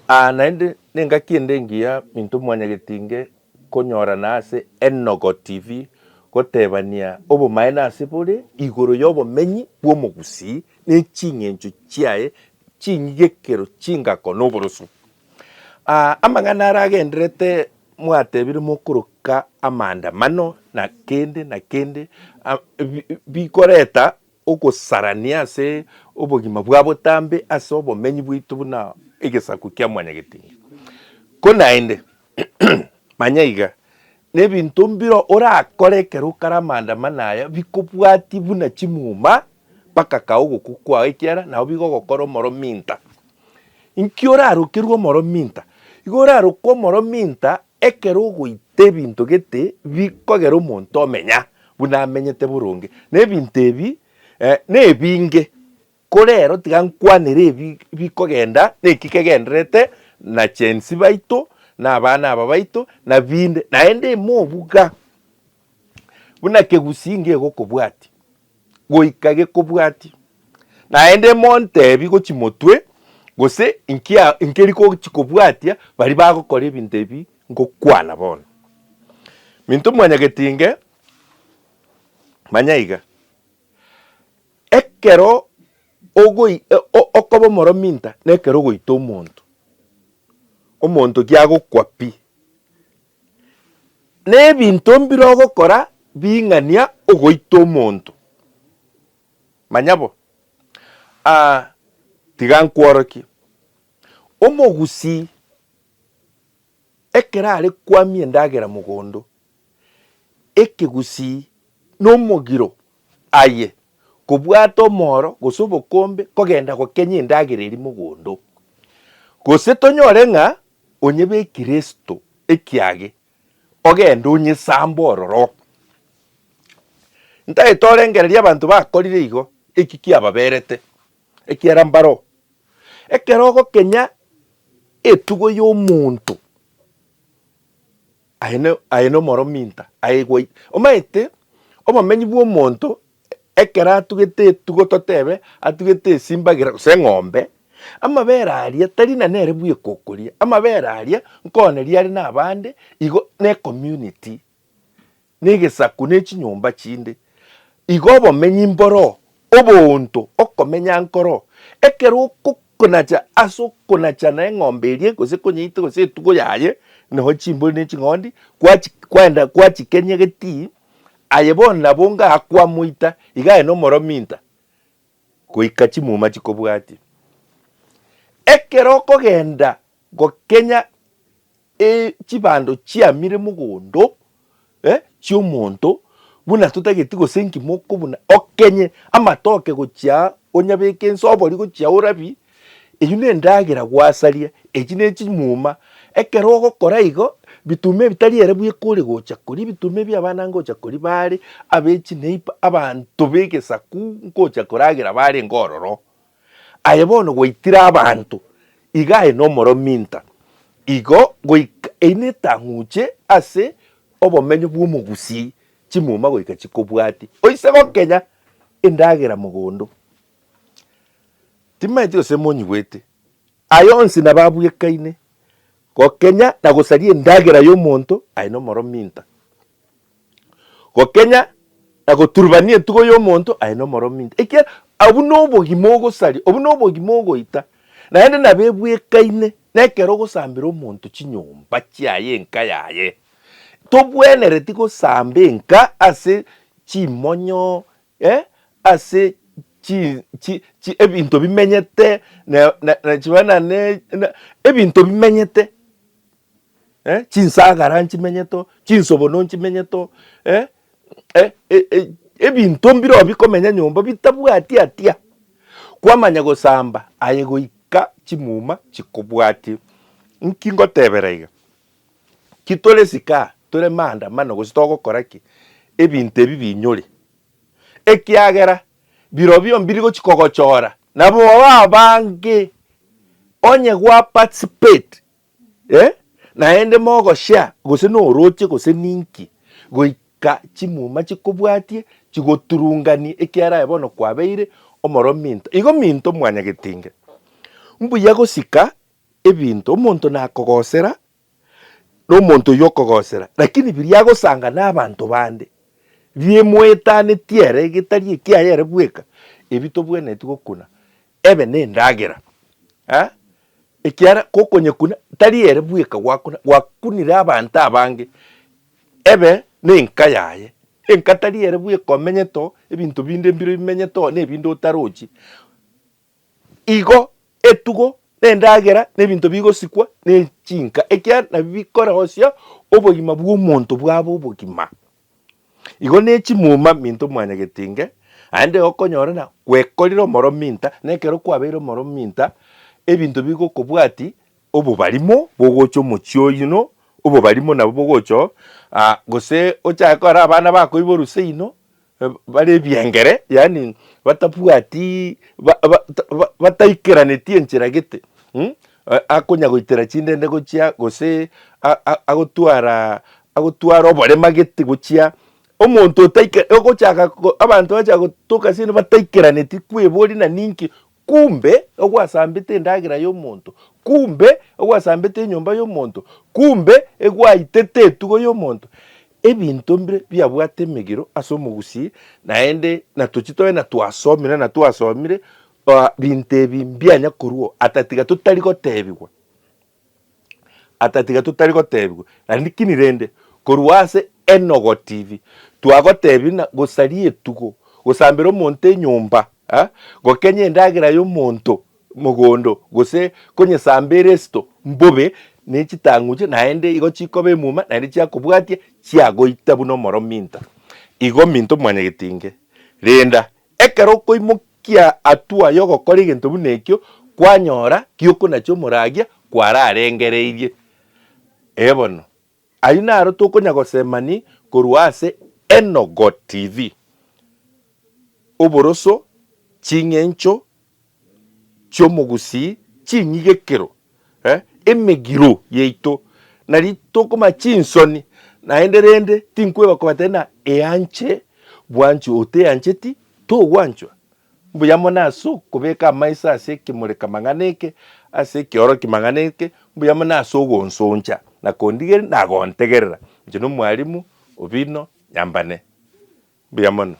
Aa naende nengaki ende engiya minto mwanyagetinge konyorana ase Enogo TV gotebania obomaene ase bore igoro y'obomenyi bw'omogusii ne ching'encho chiaye chinyigekero chingako noboroso. Aa amang'ana ara agendererete mwatebire mokoroka amaandamano na kende na kende bikoreta Ogosarania ase obogima bwa botambe ase obomenyi bwaito buna egesaku kia mwanyagetinga. Ko naende, manya iga, nebinto mbiro orakore ekero okare amanda amana aya bikobwatie buna chimuma mpaka kae ogokwa kwao ekiara nao bigogokora omoro minta. Inki orarokerwe omoro minta? Igo oraroke omoro minta Ekero ogoita ebinto gete bikogera omonto omenya buna amenyete boronge, na ebinto ebi nebinge, korero tiga nkwanere ebi bikogenda neki kegendererete na chensi baito, na abana aba baito, na binde, naende ime obuga buna kegusii ngegokobwatia. goika gekobwati. Naende montebi gochi motwe, gose inki a, inki rigochi kobwatia bari bagokora ebinto ebi ngokwana bono. Minto mwanyagetinge, manya iga, ekero ogoi e, o- okoba omoro minta, nekero ogoita omonto, omonto kiagokwa pi. Nebinto mbire ogokora bing'ania ogoita omonto? Manya bo. Aa, tiga nkworokie. Omogusii ekero are kwamia endagera mogondo, ekegusii nomogiro aye kobwata omoro gose obokombe kogenda gokenya endagera eria mogondo. Gose tonyore ng'a Onye be Kristo ekiage ogende onyesambe ororo. Ntaete orengereria abanto bakorire igo, eki kiababerete, ekiara mbaro. Ekero ogokenya etugo y'omonto. Aye ne, aye nomoro minta, aye gwa ita. Omanyete, obomenyi bw'omonto, ekero atugete etugo totebe, atugete esimbagera gose eng'ombe, amabere aria tari na nere bw'ekokoria, amabere aria nkoneria are nabande igo n'ecommunity, negesaku nechinyomba chinde. Igo obomenyi mboro Oboonto, okomenya nkoro. Ekero okonacha ase okonacha na eng'ombe eria gose ekonyeita gose etugo yaye nonya chimbori ne ching'ondi kwachi kwaenda kwachikenyegeeti aye bono nabo onga akwamoita iga aye nomorominta goika chimuma chikobwatia. Ekero okogenda gokenya E chibando chiamire mogondo e chi'omonto, buna totageti gose engima okobuna okenye amatoke gochia onyabeke ense obori gochia orabi, eyio nendagera gwasaria, echi ne chimuma. Ekero ogokora igo, bituma ebitari ere bwe kore gocha koria, ebituma ebia abana ngocha koria bare, abe chineiba, abanto b'egesaku nkocha koragera bare ngororo. Aye bono gwaitire abanto iga aye nomorominta, igo goika eine etang'uche ase obomenyo bw'omogusii, chimuma goika chikobwati. Oise gokenya endagera mogondo, timaeti gose monyigwete, aye onsi nabo abwekaine, gokenya na gosaria endagera y'omonto aye nomorominta. gokenya na goturubania entugo y'omonto aye nomoromi inche, ekiagera obwo nobogima ogosaria, obwo nobogima ogoita, naende nabo ebwekaine nekero ogosambera omonto chinyomba chiaye, enka yaye. Tobwenereti gosamba enka ase chimonyo, eh, ase chi chi chi ebinto bimenyete na na nachiba na ne na ebinto bimenyete. eh, chinsagara nchimenyete oo, chinsobono nchimenyete oo, eh, eh, eh, eh, ebinto mbireo bikomenya nyomba bitabwati atia kwamanya gosamba aye goika chimuma chikobwati. Nki ngotebera iga? Ki tore sikaha tore maandamano gose togokora ki ebinto ebi binyore ekiagera birobio mbiri gochi kogochora nabo abange onye gwa participate Eh, naende mogoshea gose norooche gose ninki, goika chimuma chikobwatie chigoturunganie ekiara aye bono kwabeire omoroo minto. Igo minto mwanyagetinge. Mbuya gosika ebinto, omonto nakogosera, nomonto oyio okogosera, lakini biria agosanga nabanto bande, biemoetanetie ere getari ekiaye ere bweka, ebi tobwenereti gokuna Ebe nendagera, eh, ekiara gokonyekuna tari ere bweka gwakuna, gwakunire abanto abange. Ebe nenka yaye, enka tari ere bweka omenyete oo, ebinto binde mbiro bimenyete oo, nebinde otarochi. Igo etugo, nendagera, nebinto bigosikwa nechinka, ekiara nabio bikoreosia obogima bwomonto bwabe obogima. Igo ne chimuma minto mwanyagetinge, naende egokonyora na gwekorire omoro minta, na ekero kwabeire omoro minta, ebinto bigokobwati obobarimo bogocha omochie oyuno, obobarimo nabo bogocha oo, ah gose ochake kora abana bako iboru seino, bare ebiengere, yaani batabwati ba ba ba bataikeraneti enchera gete mh. akonyagoitera chindende gochia, gose agotwara agotwara oborema gete gochia, omonto otaika ogochaka abanto bagochaka gotoka ase bataikeraneti kwebori na ninki kumbe ogwasambete endagera ya omonto, kumbe ogwasambete enyomba ya omonto, kumbe egwaitete etugo ya omonto. Ebinto mbire biabwate emegiro ase omogusii naende natochie tobe na twasomire na twasomire Oa binto ebi mbianya korwa ata tiga totari gotebigwa, ata tiga totari gotebigwa, lanikini rende korwa ase Enogo TV twagotebia ng'a gosaria etugo, gosambera omonto enyomba, ah, gokenya endagera y'omonto mogondo, gose konyesamba eresito mbobe ne chitang'uche naende igo chikoba emuma naende chiakobwatia chiagoita buna omoro minto. Igo minto mwanyagetinge, renda Ekero okoimokia hatua y'ogokora egento buna ekio, kwanyora giokonachia omoragia kwararengereirie. Ee bono, ayio naro tokonya gosemani korwa ase Enogo TV. Oboroso, ching'encho, chi'omogusii chinyigekero, emegiro yaito, nari tokomanya chinsoni, naende rende tinkweba kobataini ng'a eanche bwanchwe oteancheti togwanchwa. Mbuya mono ase okobeka amaiso ase ekemureka-mang'ana eke, ase ekeorokia-mang'ana eke, mbuya mono ase ogonsoncha na kondigeria na gontegerera inche nomwalimu obino nyambane. Mbuya mono.